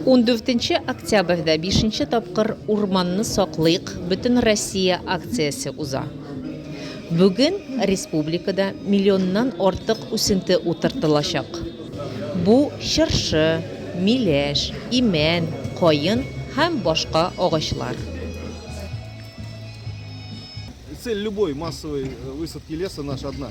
14 октябрьдә бишенче тапкыр Урманны саклыйк, бөтен Россия акциясе уза. Бүген республикада миллионнан артык үсенте утыртылачак. Бу, чыршы, миләш, имән, каен һәм башка агачлар. Цель любой массовой высадки леса наша одна.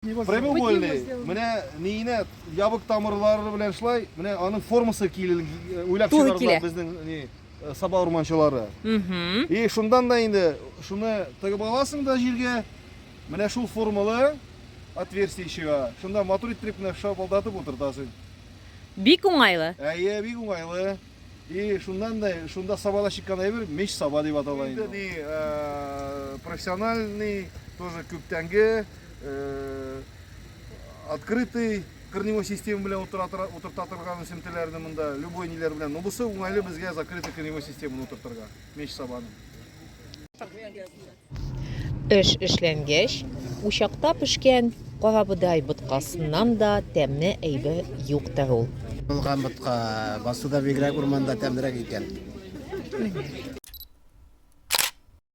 Прямоугольный, менә ниенә ябык тамырлары белән шулай, менә аның формасы килен уйлап чыгардылар безнең ни э, саба урманчылары. И шундан да инде шуны тыгып аласың да җиргә. Менә шул формалы отверстие чыга. Шунда матур иттереп менә шапылдатып утыртасың. Бик уңайлы. Әйе, бик уңайлы. И шуннан да шунда сабада чыккан әйбер меч саба дип атала инде. Инде э, профессиональный, тоже күптәнге э, открытый корневой система белән утырта торган үсемтәләрне монда любой ниләр белән. Но бусы уңайлы безгә закрытый корневой системаны утыртырга. Меч сабаны. Эш эшләнгәч, учакта пешкән карабодай боткасыннан да тәмле әйбер юктыр ул. Булган ботка басуда бигрәк урманда тәмлерәк икән.